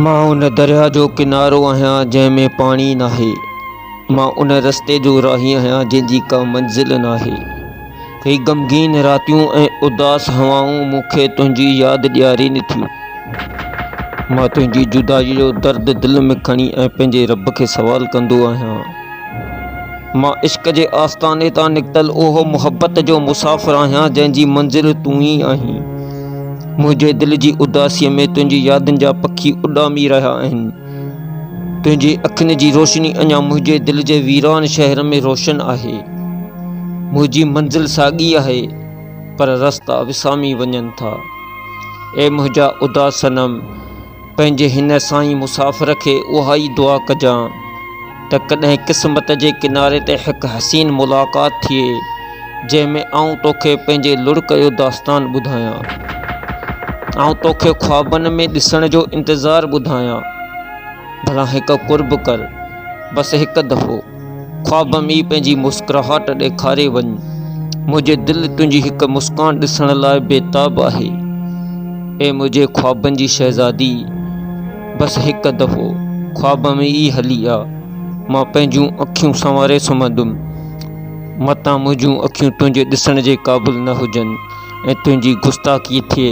مان ان درياهه جو ڪنارو آهيان جنهن ۾ پاڻي ناهي مان ان رستي جو راهي آهيان جنهن جي ڪا منزل ناهي هي غمگين راتيون ۽ اداس هوائون مون کي تنهنجي ياد ڏيارين ٿيون مان تنهنجي جدائي جو درد دل ۾ کڻي ۽ پنهنجي رب کي سوال ڪندو آهيان مان عشق جي آستاني تان نڪتل اهو محبت جو مسافر آهيان جنهن جي منزل تون ئي آهين منهنجي دل جي اداسي ۾ تنهنجي يادن جا پکي اڏامي رهيا آهن تنهنجي اکين جي روشني اڃا منهنجي دل جي ويران شهر ۾ روشن آهي منهنجي منزل ساڳي آهي پر رستا وسامي وڃن ٿا اي منهنجا ادا صنم پنهنجي هن سائين مسافر کي اها ئي دعا ڪجان ته ڪڏهن قسمت جي ڪناري تي هڪ حسين ملاقات ٿئي جنهن ۾ آئون توکي پنهنجي لڙڪ جو داستان ٻڌايان آئون توکي خوابن ۾ ڏسڻ جو انتظار ٻڌايان ڀلا هڪ قرب ڪر بس هڪ دفعو خواب ۾ ئي پنهنجي مسڪراهٽ ڏيکاري وڃ. منهنجي دل تنهنجي هڪ مسڪان ڏسڻ لاء بيتاب آهي. اي منهنجي خوابن جي شهزادي! بس هڪ دفعو خواب ۾ ئي هلي آ. مان پنهنجون اکيون سنواري سمهندم. متان منهنجون اکيون تنهنجي ڏسڻ جي قابل نه هجن ۽ تنهنجي گستاخي ٿئي.